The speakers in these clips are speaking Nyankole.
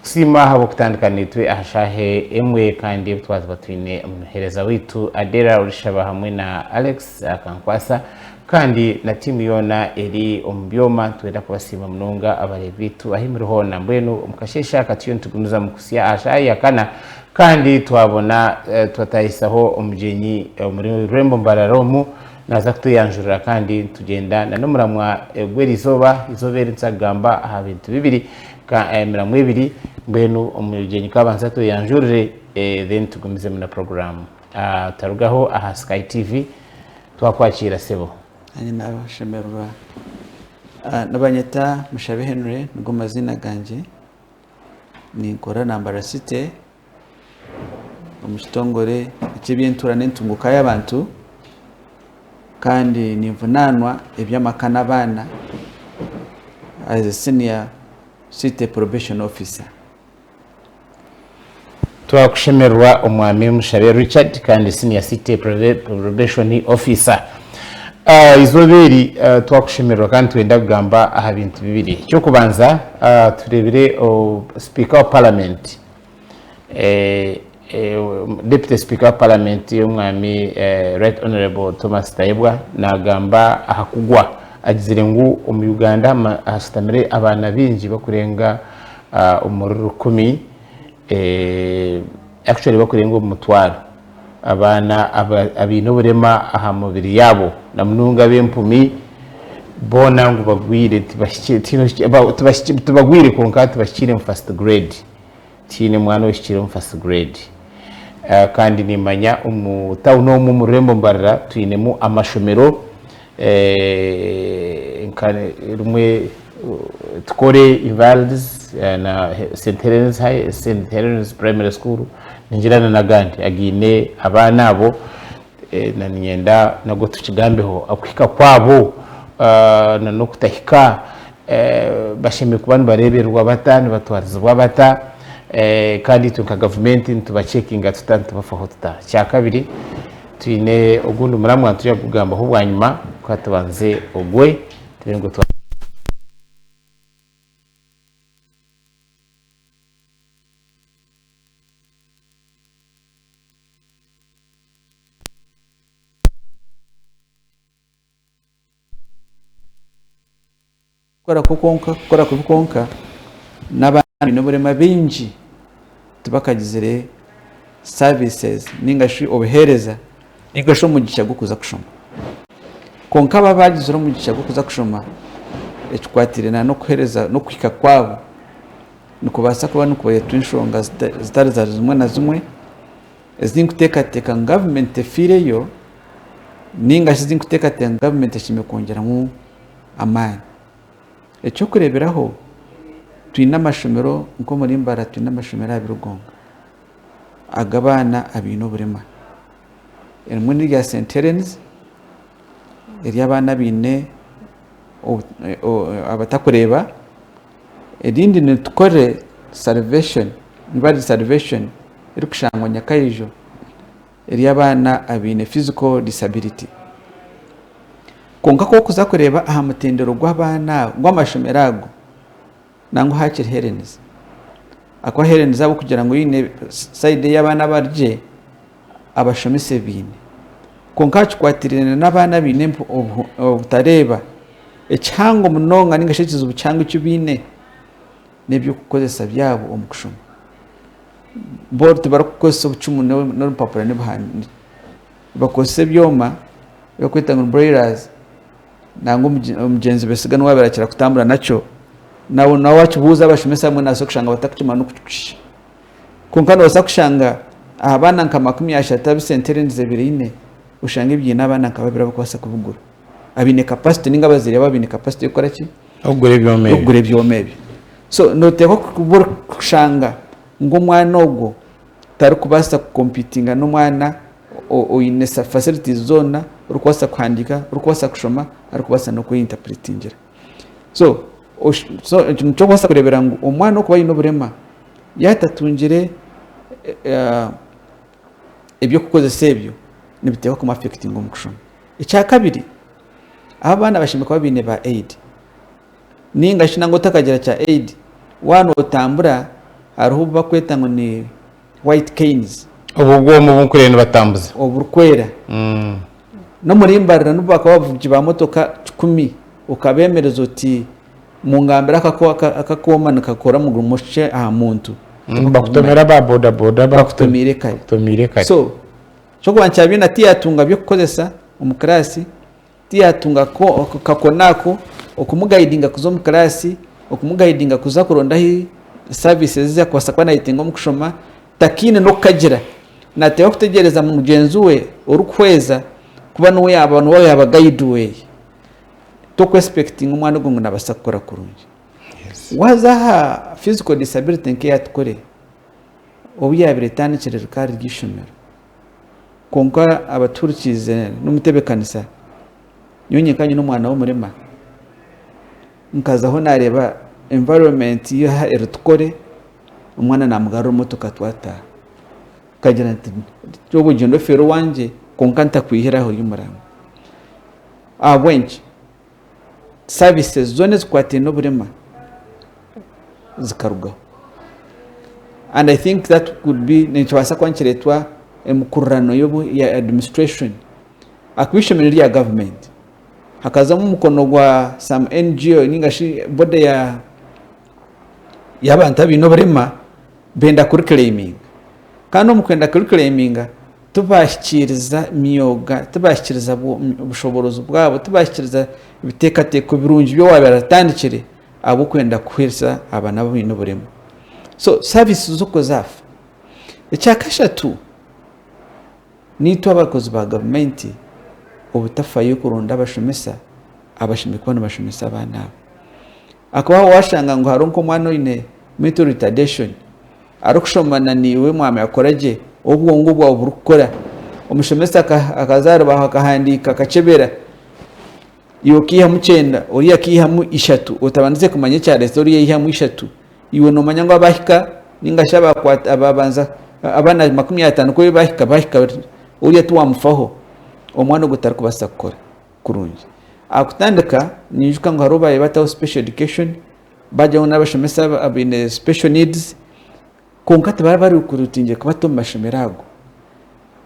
Tusiima ahabw'okutandika naitwe aha shaaha emwe kandi ebi twaziba twine omuheereza waitu Adera orishaba hamwe na Alex Akankwasa kandi na tiimu yoona eri omu byoma. Nitwenda kubasiima munonga abareebi baitu ahi muri hoona. Mbwenu omu kasheeshe aka turiyo nitugumizamu kuhitsya aha shaaha ya kana kandi twabona twataahisaho omugyenyi omuri rurembo mbarara omu naaza kutweyanjurira kandi nitugyenda na n'omuramwa gw'erizooba. Eizooba eri nituza kugamba aha bintu bibiri. Ka emiramu ebiri mbwenu omugyenyi ka abanze atweyanjurire then tugumizemu na puroguramu. Tarugaho aha Sky TV. Twakwakiira sebo. Nanye nashemererwa. Nibanyeta Mushabe Henry nigo maziina gangye. Ninkorera Nambara City. omu kitongore eky'eby'entuura n'entunguuka y'abantu kandi ninvunaanwa eby'amaka n'abaana as a senior city probation officer. Twakushemererwa Omwami Mushabe Richard kandi senior city probation officer. Eizooba eri twakushemererwa kandi nitwenda kugamba aha bintu bibiri. Eky'okubanza tureebire sipiika wa paramenti Deputy Sipiika wa Paramenti omwami Right Honourable Thomas Tayebwa nagamba aha kugwa agizire ngu omu Uganda hashutamire abaana baingi bakurenga omuri rukumi actually bakurenga omu mutwaro. abaana abaine oburema aha mibiri yaabo na munonga ab'empumi boona ngu bagwire tibagwire kwonka tibahikiire omu first grade tihaine mwana ohikiire omu first grade kandi niimanya omu tawuni omu omu rurembo mbarira twinemu amashomero nka rimwe tukore evals na St Helen's High, St Helen's Primary School ningira na nagandi againe abaana abo na ninyenda nago tukigambeho okuhika kwabo na nokutahika bashemereire kuba nibarebererwa bata nibatwarizibwa bata kandi itwe nka gavumenti nituba checkinga tuta nitubafaho tuta. Ekyakabiri. Twine ogundi muramwa niturya kugugambaho bwanyima ka tubanze ogwe tube ngu twa. kukora kwo kwonka kukora kubi kwonka n'abandi n'oburema bingi tibakagizire services ninga shi obuheereza ninga shi omugisha gw'okuza kushoma kwonka abo abagizire omugisha gw'okuza kushoma ekikwatire na n'okuheereza n'okuhika kwabo nikubaasa kuba nikureetwa enshonga zitari zimwe na zimwe Ezi tinkuteekateeka ngu gavumenti efiireyo nainga shi ezi nkuteekateeka ngu gavumenti eine kwongyeramu amaani. Eky'okureeberaho, twine amashomero nk'omuri Mbaara twine amashomero abari Rugonga ag'abaana abaine oburema. Erimwe n'erya St Helens ery'abaana abaine abatakureeba Erindi ni Tukore Salvation Rwari Salvation erikushangwa Nyakaijo ery'abaana abaine physical disability. Kwonka ku orikuza kureeba aha mutendero gw'abaana abo, gw'amashomero ago, nangwa hakiri herenizi. Ahakuba herenizi ahabw'okugira ngu side ey'abaana abari gye, abashomesa ebi baine. Kwonka aha kikwatiraine n'abaana abaine obutareeba, ekihango munonga ninga shi ekizibu kihango eki baine n'eby'okukoresa byabo omu kushoma. Bo tibarikukoresa obucumu n'orupapura n'ebihandiiko. Nibakoresa ebyoma ebirikwetwa ngu ni brailers nangwa omugyenzi Besiga niwe abirakira kutambura nakyo. Nabwo n'owakibuuza abashomesa abamwe naabaasa kushanga batakukimanya n'oku kiri kushusha. Kwonka noobaasa kushanga aha baana nka makumi ashatu abu sente erendize biraine, oshange biine abaana nka babiri abarikubaasa kubigura, abaine capacity nainga abazaire baabo baine capacity y'okukora ki? Y'okugura ebyoma ebyo. Y'okugura ebyoma ebyo. So nooteekwa kuba orikushanga ngu omwana ogwo tarikubaasa ku competinga n'omwana oine facilities zoona, orikubaasa kuhandiika, orikubaasa kushoma, arikubaasa n'okweyenterpretingira. so eki nikyo orikubaasa kureebera ngu omwana orikuba aine oburema yaaba atatungire eby'okukoresa ebyo nibiteeho kumu afekitinga omu kushoma. Ekyakabiri abu abaana bashemereire kuba baine ba aidi ninga shi nangwa otakagira kya aidi waaba notambura hariho obu barikweta ngu ni white canes. Obwo bwoma obu mpurire nibatambuza. Oburikwera. N'omuri mbarira nibo bakaba abavugi ba motoka kikumi. Okabemereza oti, Mungambire akaku aka akooma nikakora mugurimo ki aha muntu? Bakutomera aba boda boda bakutomiire kare. So, ekyokubanza kya Biina tiyatunga byokukozesa omu kiraasi. Tiyatunga kakona ako okumugayidinga kuza omu kiraasi, okumugayidinga kuza kuronda ahi saavisi ezi arikubaasa kuba naayetenga omu kushoma. Takaine n'okukagira. Naateeba kutegyereza mugyenzi we orikuhweza kuba niwe yaaba niwe yaaba gayidi we. Tokwesipekitinga omwana ogwo ngu naabaasa kukora kurungi. Waaza aha fiziko disabirite nk'eya Tukore, obu yaabaire etandikire rikaba riri eishomero, Kwonka abatuhurikiize n'omutebekanisa, nyowe nyenka nyine omwana w'omurema, nkazaho nareeba environment ya aha eri tukore, omwana namugarura emotoka twataaha. Nkagira nti itwe ogu ogyenda ofeere owangye kwonka ntakwihire aho oyu muraamu. Ahabw'enki? saviisi zoona ezikwataine oburema zikarugaho and I think that could be nikibaasa kuba nikireetwa emikurirano ya administration ahakuba eishomero nerya gavumenti hakazamu omukono gwa some ngo ninga shi body ya y'abantu abaine oburema benda kuri kureeminga kandi omu kwenda kuri kureeminga tibahikiriza myooga, tibahikiriza bushoboorozi bwabo, tibahikiriza biteekateeko birungi bi owaabaire atandikire ahabw'okwenda kuhwezesa aba nabo abaine oburema. So saavisi zo kuzaafa. Ekyakashatu naitwe abakozi ba gavumenti obutafayo kuronda abashomesa abashemeriire kuba nibashomesa abaana abo. Ahakuba waashanga ngu hariho nk'omwana oine mental retardation arikushoma na naiwe mwamanya kukora gye obwongo bwawe burikukora. Omushomesa akaza aha rubaaho akahandiika akakyebera, iwe okaihamu kyenda oriya akaihamu ishatu otabandize kumanya ekyareetsa oriya yaihamu ishatu. Iwe noomanya ngu abaahika nainga shi abaabanza abaana makumi ataano ku ebi baahika, baahika oriya tiwaamufaho. Omwana ogwo tarikubaasa kukora. kurungi. Ahakutandika ninjuka ngu hariho baayebataho special education bagyaho ngu n'abashomesa abaine special needs kwonka tibaba bari kurutingyire kubata omu mashomero ago.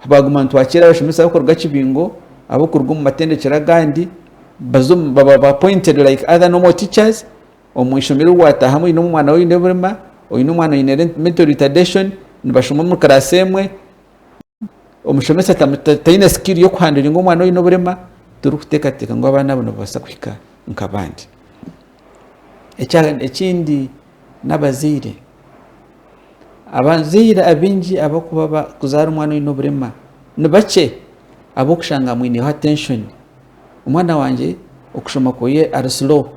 Baaguma nitwakira abashomesa ab'okuruga Kibingo, ab'okuruga omu matendekero agandi baza omu baba ba appointed like other normal teachers omu ishomero obu waataahamu oine omwana oine oburema, oine omwana oine mental retardation nibashoma omu class emwe. omushomesa taine sikiri y'okuhanduringa omwana oine oburema turikuteekateeka ngu abaana abo nibabaasa kuhika nk'abandi. Ekindi n'abazaire, abazaire abaingi kuzaara omwana oine oburema nibakye ahabw'okushanga amwineho atenshoni. Omwana wangye okushoma kwe ari slow.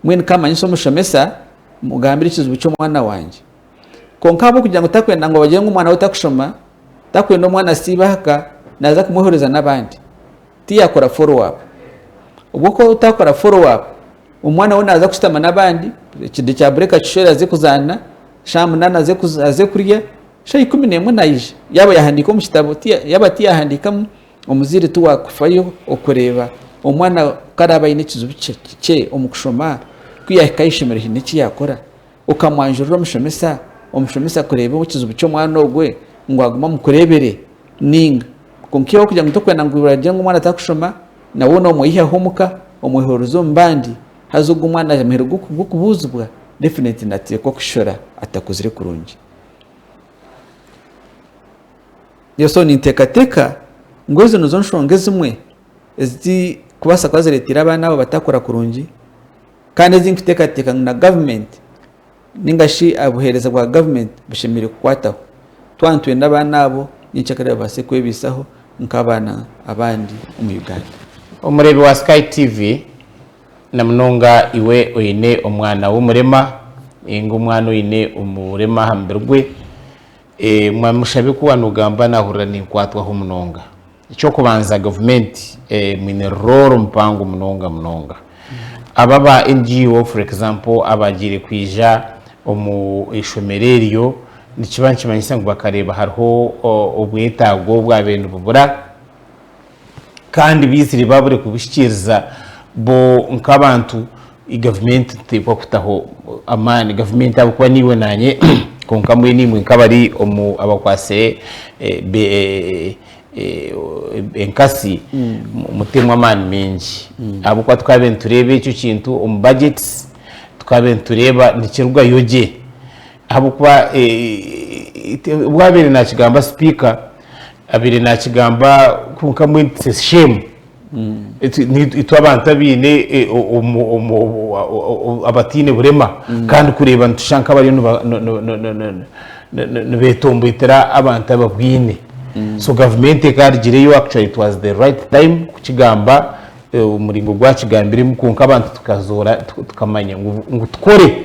Mbwenu kamanyisa omushomesa, mugambire ekizibu ky'omwana wangye. Kwonka ahabw'okugira ngu takwenda ngu bagire ngu omwana we takushoma, takwenda omwana asiibe aha ka, naaza kumwehuririza n'abandi. Tiyaakora follow up. Obwo ku otaakora follow up, omwana we naaza kushutama n'abandi, ekide kya bureeki akishwere aze kuzaana, shaaha munaana aze aze kurya, shaaha ikumi n'emwe naija. Yaaba yaahandiika omu kitabo, yaaba tiyaahandiikamu, Omuzaire ti waakufayo okureeba omwana ku araabe aine ekizibu kikye omu kushoma, ku yaahika aha ishomero haine eki yaakora, okamwanjurira omushomesa, omushomesa kureeba ekizibu ky'omwana ogwo ngu agume amukureebere nainga. Kwonka iwe ahabw'okugira ngu torikwenda ngu bagire ngu omwana tarikushoma, nawe noomweihaho omuka, omwehuririze omu bandi, haza ogwo omwana yaagira omuhendo gw'okubuuzibwa, definitely naateekwa kushishora atakuzire kurungi. Reero ninteekateeka ngu ezo nizo nshonga ezimwe ezirikubaasa kuba zireeteire abaana abo batakura kurungi kandi ezi ndikuteekateeka ngu na gavumenti nainga shi obuheereza bwa gavumenti bushemereire kukwataho. Twaba nitwenda abaana abo ninki ekirabaasa babaase kwebaisaho nk'abaana abandi omu Uganda. Omureebi wa Sky TV, na munonga iwe oine omwana w'omurema nainga omwana oine oburema aha mubiri gwe, Eeh Mwami Mushabe ku wanogamba nahurira ninkwatwaho munonga. Ekyokubanza gavumenti mwine rooro mpango munonga munonga. Abo aba NGO for example abagiire kwija omu ishomero eryo nikiba nikimanyisa ngu bakareeba hariho obwetaago obwabaire nibubura. kandi baizire baabure kubihikiiriza bo nk'abantu, gavumenti niteekwa kutaho amaani. Gavumenti ahabw'okuba niiwe naanye kwonka mbwenu imwe nk'abari omu abakwatsire enkatsi muteemu amaani maingi ahabw'okuba tukaabaire nitureeba ekyo kintu omu bajeti, tukaabaire nitureeba nikirugayo gye. Ahabw'okuba obu abaire naakigamba sipiika abaire naakigamba kwonka mbwenu its a shame itwe abantu abaine abataine burema kandi kureeba nitushusha nk'abariyo nibeetomboitera abantu ababwaine so gavumenti ekaarugireyo actually it was the right time kukigamba omuringo ogu akigambiremu kwonka abantu tukazoora tukamanya ngu tukore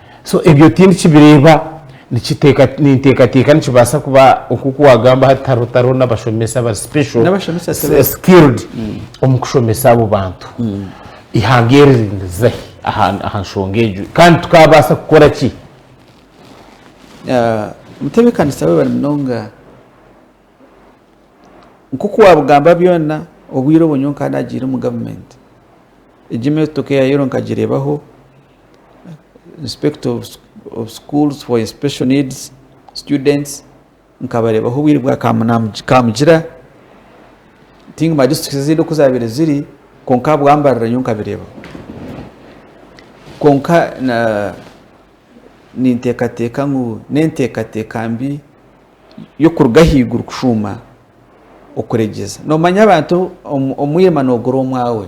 So ebyo tindikibireeba, nikiteeka ninteekateeka nikibaasa kuba nk'oku waagamba hati tihariho tihariho n'abashomesa abari special, N'abashomesa tibariho. skilled omu kushomesa abo bantu. Eihanga eri ririza hi aha aha nshonga egyo? Kandi tukaabaasa kukora ki? Ah, mutebeekanisa webare munonga. Nk'oku waabugamba byona, obwire obwo nyowe nkaba naagiire omu gavumenti. Egi emyotoka eya Yero nkagireebaho. inspector of schools for special needs students nkabareebaho obwire bwa kamugyera tingimanya districts ezindi oku zaabaire ziri kwonka ahabwambarira nyowe nkabireebaho kwonka ninteekateeka ngu n'enteekateeka mbi y'okuruga ahaiguru kushuuma okuregyeza noomanya abantu omwirima noogura omwaawe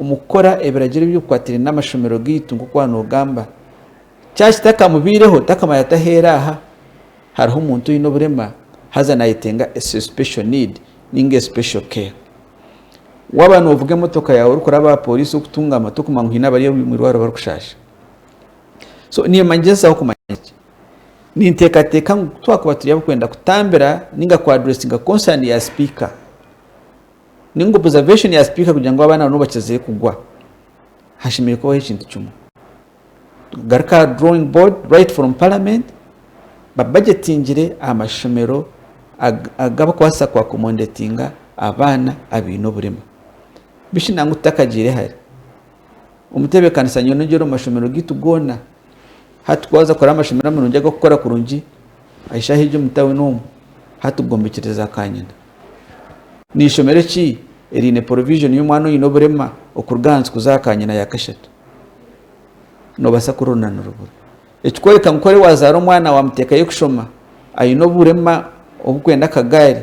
Omu kukora ebiragiro ebirikukwatiraine n'amashomero gaitu, nk'oku waba noogamba, kyaba kitakamubaireho, takamanya ati aheeri aha hariho omuntu oine oburema haza nayetenga special need ninga special care. Waba novuga emotoka yaawe orikuraba aha poriisi okutungama, tokumanya ngu haine abari omu irwariro barikushaasha. So niimba ningyezaho kumanya ki? Ninteekateeka ngu ku twakuba turi abarikwenda kutambira ninga ku addressinga concern ya sipiika, Ninga observation ya speaker kugira ngu abaana nabo bakize kugwa hashemereire kubaho ekintu kimwe garuka aha drawing board right from parliament babagetingire amashomero agabakubaasa ku accomodatinga abaana abaine oburema bishi nangu tutakagiire hare omu tebekanisa nyowe nogira omu mashomero gaitu goona Hati ku waza kukora amashomero amarungi ag'okukora kurungi ah'ishaha egyo omu tawuni omu, hati gombekyere za kanyina. N'eishomero ki eriine poroviizhoni y'omwana oine oburema okuruga ahansi kuza aha kanyina ya kashatu? Nobasa kururu na nirubura. Ekikworeka ngu kore wazaara omwana wamuteekayo kushoma aine oburema obukwenda akagaari,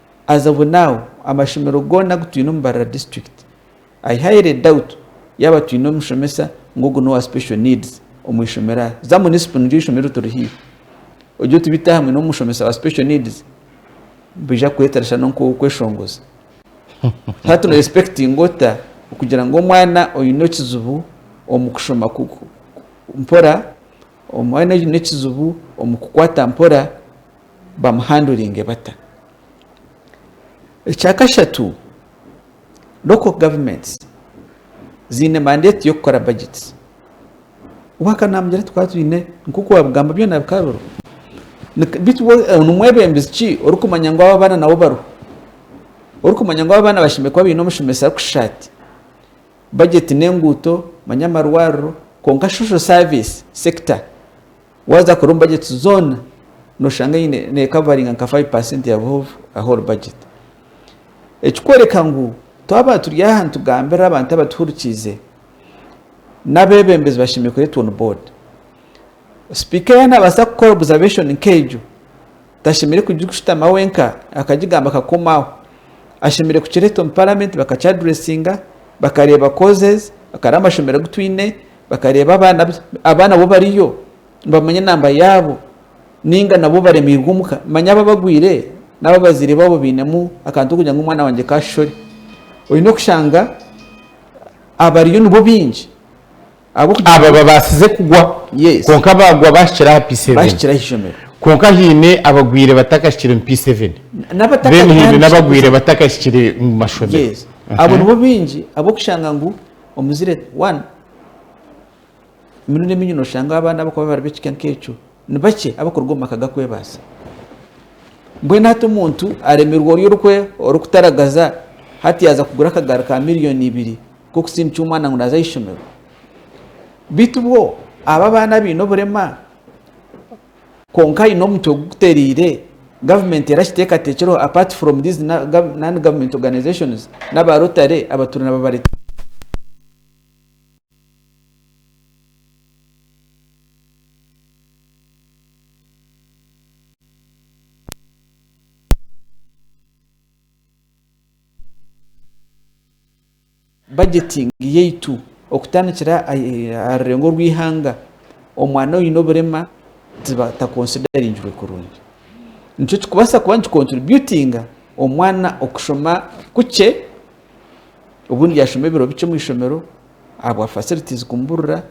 As of now amashomero goona agu twine omu Mbarara district I highly doubt yaaba twine omushomesa ngu ogu n'owa special needs omu ishomero aha za munisipo niryo ishomero rituri haihi ogye otubite aha mwine omushomesa wa special needs nibaija kukwetera shana onka ow'okweshongoza hati no respectinga ota okugira ngu omwana oine ekizibu omu kushoma ku ku mpora omwana oine ekizibu omu kukwata mpora bamuhanduringe bata? Ekya kashatu, local governments ziine mandate y'okukora budgets. Wahika namugira ati twaba twine nkoku wabigamba byona bikaba biriho beitu we nimwebembezi ki orikumanya ngu abo abaana nabo bariho? Orikumanya ngu abo abaana bashemereire kuba baine omushomesa arikushusha ati? Budget n'enguuto manya amarwariro kwonka social service sector Waaza kukora omu bajeti zoona, nooshanga eine neekavaringa nka five percent ya buhovu a whole budget. Ekikworeka ngu twaba turi aha nitugambira abantu abatuhurikiize, n'abeebembezi bashemereire kureetwa on board. Sipiika yaaba naabaasa kukora observation nk'egyo, tashemereire kugishutama wenka akagigamba akakoma aho. Ashemereire kukireeta omu paramenti bakaki addressinga, bakareeba causes, bakareeba amashomero agu twine, Bakareeba abaana be, abaana bo bariyo nibamanya enamba yaabo nainga nabo baremeirwe omu ka. Manya aba abagwire n'abu abazaire baabo bainemu akantu k'okugira ngu omwana wangye ka ashore. Oine kushanga abariyo nibo baingi ahabw'okugira ngu. Aba babaasize kugwa, kwonka baagwa baahikire aha P7. Baahikire aha ishomero. Kwonka haine abagwire batakahikire omu P7. N'abatakatandikire. Then haine n'abagwire batakahikire omu mashomero. Yes. Abo nibo baingi ahabw'okushanga ngu omuzire one emirundi emingi noshangaho abaana abakuba bari bekika nkekyo nibakye abakuruga omu maka gakwebaasa mbwenu hati omuntu aremerwa ori orukwe orikutaragaza hati yaza kugura akagaari ka miliyoni ibiri kokusindikya omwana ngu naza ahaishomero bitu bwo aba abaana abaine oburema Kwonka aine omutwe gukutereire, Gavumenti erakiteekateekyereho apart from these non government organisations n'aba Rotary abatuura nibabareetera omu bajetingi yaitu okutandikira aha rurengo orw'eihanga, omwana oine oburema takonsidaringirwe kurungi. Nikyo kirikubaasa kuba nikikontiribyutinga omwana okushoma kukye, obundi yaashoma ebiro bikye omu ishomero ahabwa fasilitiizi kumuburira,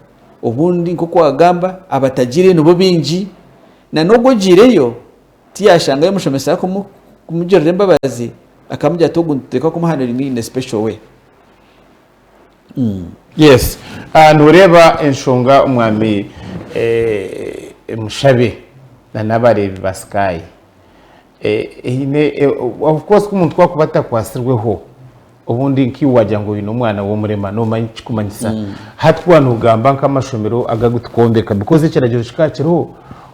obundi nk'oku waagamba abatagiireyo nibo baingi, na n'ogu ogiireyo Tiyashangayo omushomesa arikumugirira embabazi akamugira ati ogu nituteeka kumuhanura imwe in a special way. Umm. Yes noreeba enshonga omwami mushabe na nabareebi ba sky eine of course ku omuntu ku akuba atakwatsirweho. Obundi nkaiwe wagira ngu oine omwana w'omurema noomanya eki kikumanyisa. Hati ku waaba noogamba nk'amashomero agu agu tukwombeka because ekiragiro kikaba kiriho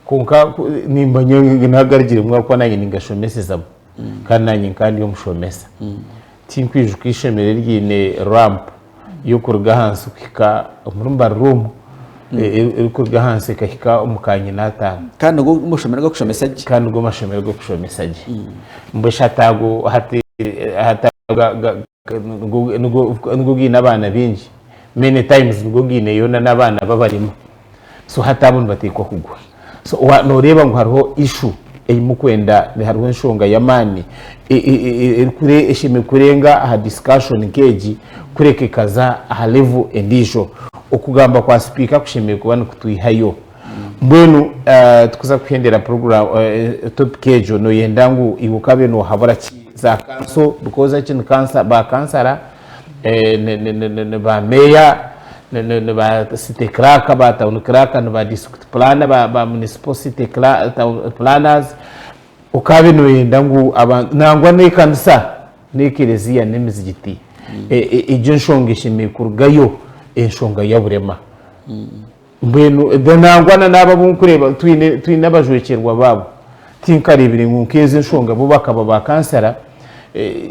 kwonka ku- niimanya ngu naha garigiremu ahabw'okuba naanye ningashomesezamu kandi naanye nkaba ndi omushomesa. Tinkwijuka eishomero eryaine ramp y'okuruga ahansi kuhika omuri mbarira omu e- e- erikuruga ahansi ekahika omu ka nyina ataano kandi nigo mushomero g'okushomesa gye kandi nigo mashomero g'okushomesa gye mbwe shatago hati hatago ga- ga- ga- nigo- nigo- nigo gaine abaana baingi many times nigo gaine yoona n'abaana babarimu so hati abo nibateekwa kugwa So noreeba ngu hariho issue ei mukwenda, hariho enshonga y'amaani eshemereire kurenga aha discussion nk'egi kureka ekaza aha level endiijo. Okugamba kwa sipiika kushemereire kuba nikutwihayo. Mbwenu tikuza kuhendera topic egyo noyenda ngu iwe okabe nohabura ki za kanso, because eki ni ba kansara. ba meeya, ba city clerk, ba town clerk, ba district planner, ba municipal city planners okaabe nooyenda ngu abantu nangwa n'ekanisa n'ekereziya n'emizigiti egyo enshonga eshemereire kurugayo enshonga ya burema. Mbwenu da nangwa na n'abo abu nkureeba twine twine abajwekyerwa baabo tinkareebire ngu nk'ezo enshonga bo bakaba ba kansara eh,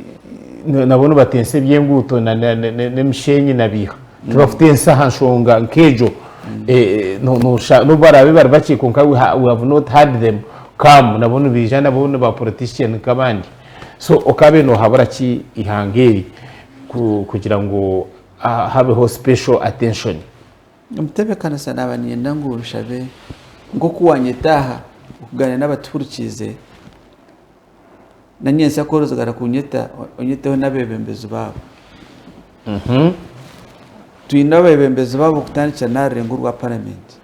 nabo nibatensa eby'enguuto na na na n'emishenyi na biiha tibakutensa aha nshonga nk'egyo eh, eh, no noshanga n'obu baraabe bari bakye kwonka we ha we have not had them come nabo nibaija nabo ni ba politician nk'abandi so okaabe nohabura ki eihanga eri ku kugira ngu ah habeho special attention Omutebeekanisa naaba niinyenda ngu nshabe nk'oku waanyeta aha okugaaniira n'abatihurikiize, nanyentsya kworozigara kunyeta onyeteho n'abeebembezi baabo. Twine abeebembezi baabo okutandikira n'aha rurengo rwa Paramenti.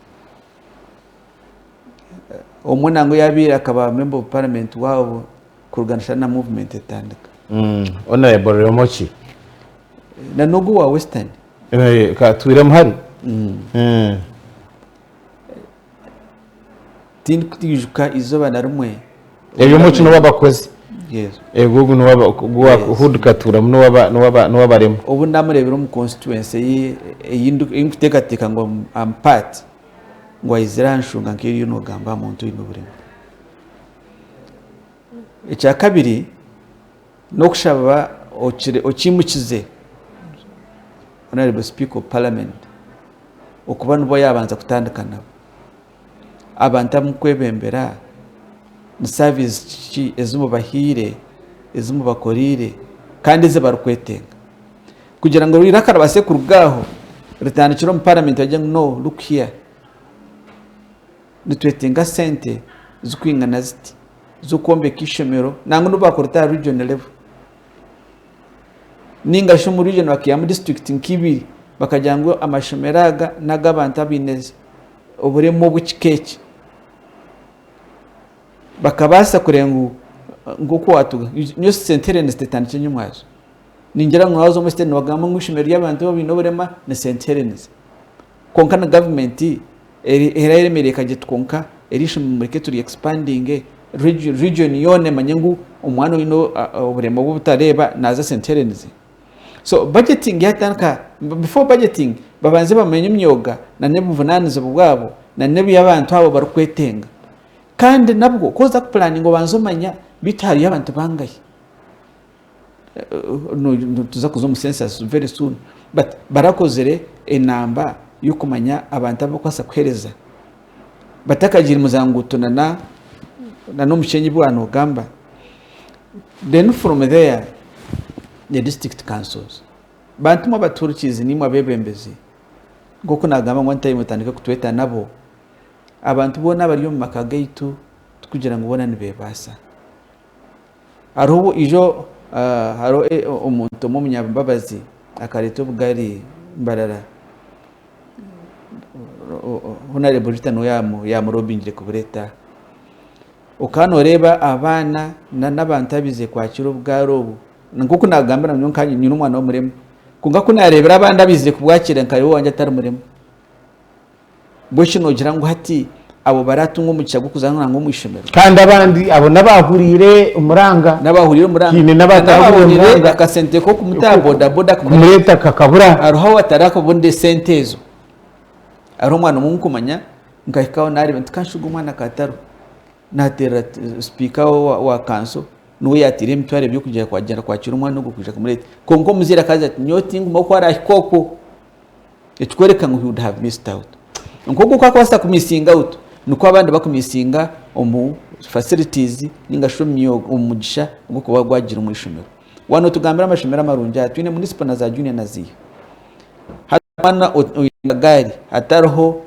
Omwe nangwa yaabaire akaba Memba of Parliament waabo kuruga nashana na Movement etandika. Hon Ramogi. Nan'ogu owa Western. Eh, ka tuiremu hari. Eh. tindikwijuka izooba na rimwe Ebyo omwishiki n'owa bakozi. Yes. Ego ogu n'owa ba- ogu wa- Yes. huu ndikatuuramu n'owa ba- n'owa ba- n'owa barema. obu namureebire omu constituency eye ei ndi- ei ndikuteekateeka ngu am- am part ngu aizire anshunga nk'ebi oriyo noogamba aha muntu oine oburemu ekyakabiri N'okushaba okyimukize Honourable Speaker of Parliament okuba nibo yabanza kutandika nabo. Abantu abumukwebembera ni service ki ezimubahiire, ezimubakoreire kandi ezibarikwetenga kugira ngu eiraka ribaase kuruga aho ritandikire omu Parliament bagire ngu no look here. Nitwetenga sente zikwingana ziti z'okwombeka ishomero nangwa n'obu bakurita aha region level ninga shi omu region bakihamu district nka ibiri bakagira ngu amashomero aga n'ag'abantu abaine oburemu obu kika eki. Bakabaasa kureba ngu nk'oku waatuga nyowe sente reero nizitetandikira enye omwazyo. Ningira ngu waaza omu site nibagamba ngu ishomero ry'abantu abaine oburema ni sente reero nizi. Kwonka na government era eremereire ekagira eti kwonka eryishomero mureke turi expandinge region yoona emanye ngu omwana oyine oburema obubutareeba naza esente here nizi so budgeting yatandika before budgeting babanze bamanye emyoga nana obuvunanizibwa bwabo nana ebi abantu abo barikwetenga Kandi nabwo ku oza ku planinga obanza omanya beitu hariyo abantu bangahi. nituza kuza omu census very soon but barakozire enamba yokumanya abantu abu orikubaasa kuhereza batakagiire muza nguuto na nomushenyi obu wanogamba then from there the district councils bantu mwe abatuurikizi nimwe abebembezi nkoku nagamba ngu one time otandike kutweta nabo abantu boona abari omu maka gaitu tikugira ngu boona nibebaasa. Hariho burijo hariho omuntu omwe omunyambabazi akareeta obugari Mbarara, Honarebo Rita niwe yaamuroobingire kubureeta. Okaba nooreeba abaana n'abantu abaize kwakira obugaari obu, nk'oku naagambira ngu nyowe nyine omwana w'omurema, kwonka ku naareebire abandi abaize kubwakira nkareeba owangye atari murema. Mbwenu shi noogira ngu hati abo baraatunga omugisha gw'okuza nangwa omu ishomero? Kandi abandi abo n'abaahuriire omuranga. N'abaahuriire omuranga. Haine n'abatahuriire omuranga. N'abaahuriire akasente k'okumutaaha bodaboda kumureeta kakabura. Hariho abataraakabonire sente ezo. Hariho omwana omwe ou ndikumanya nkahikaho naareeba nti kanshuge omwana kaatariho. Naateerera sipiika wa kanso niwe yaataire emitwaro ebiri kugira ngu kwaagyenda kwakira omwana ogwo kwija kumureeta. Kwonka omuzaire akaagira ati nyowe tingumaho ku araahika okwo. ekikworeka ngu he would have missed out. Nk'oku oku akubaasa ku missing out nikwo abandi baku missinga omu facilities ninga shi omu mugisha ogw'okuba gwagire omu ishomero. Wano tugambire amashomero amarungi aha twine municipal na za junior na ziiha. Hati omwana oine akagaari hatariho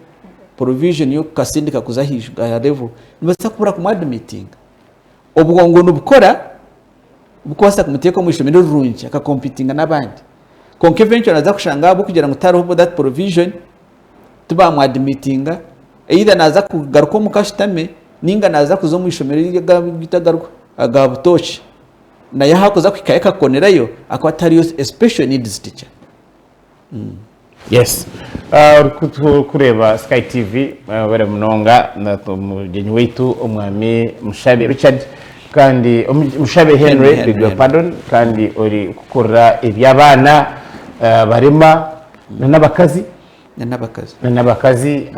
provision y'okukatsindika kuza aha level nibabaasa kubura kumu admittinga. Obwongo nibukora bukubaasa kumuteeka omu ishomero rirungi akakompitinga n'abandi kwonka eventually naza kushanga ahabw'okugira ngu tihariho that provision tibamu admittinga either naza kugaruka omuka ashutame ninga naza kuza omu ishomero aga butooki nayo ahakuza kuhikayo akakukonerayo akuba tihariyo special needs teacher. Yes orikureeba sky TV mwebare munonga mugyenyi waitu omwami mushabe Richard kandi mushabe Henry beg your pardon kandi ori kukorera ebyabaana abarema nana abakazi nana abakazi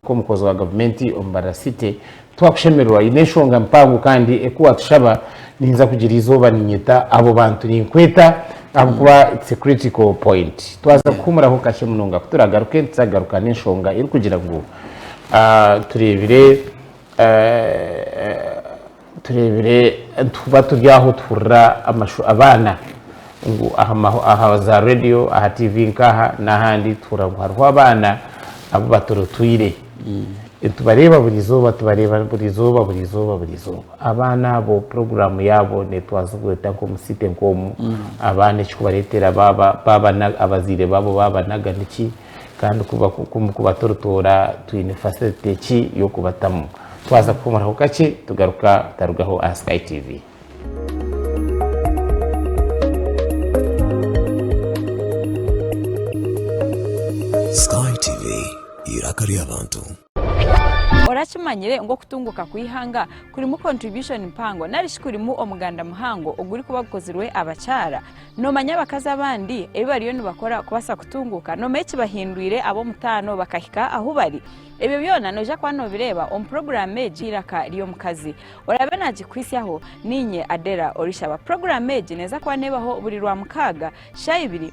nkomukozi wa gavumenti omu barasite Twakushemererwa haine enshonga mpango kandi eku watushaba ninza kugira eizooba ninyeta abo bantu ninkweta ahabw'okuba it's a critical point. Twaza kuhumuraho kakye munonga ku turagaruke nituza kugaruka n'enshonga erikugira ngu tureebire tureebire nituba turi aho tuhurira amashu abaana ngu aha za radio aha TV nk'aha n'ahandi tuhurira ngu hariho abaana abu baturutwire. Tubareeba buri izooba, tubareeba buri izooba, buri izooba, buri izooba. Abaana abo puroguraamu yaabo neetwazibwa eta nk'omu site nk'omu? Abaana ekikubareetera baaba baaba abazaire baabo baabanaga niki? Kandi kuba kuba toritoora twine facility ki y'okubatamu? Twaza kuhumuraho kakye tugaruka tutarugaho aha Sky TV. Orakimanyire ngu okutunguuka kw'eihanga kurimu kontribushoni mpango narishi kurimu omuganda muhango ogurikuba gukozirwe abakyara? Noomanya abakazi abandi ebi bariyo nibakora kubaasa kutunguuka? Noomanya ekibahindwire ab'omutaano bakahika ahu bari? Ebyo byona noija kuba noobireeba omu puroguraamu egi y'eiraka ry'omukazi. Oraabe naagikuhitsyaho niinye Adela orishaba. Puroguraamu egi neeza kuba neebaho buri Rwamukaaga shaaha ibiri.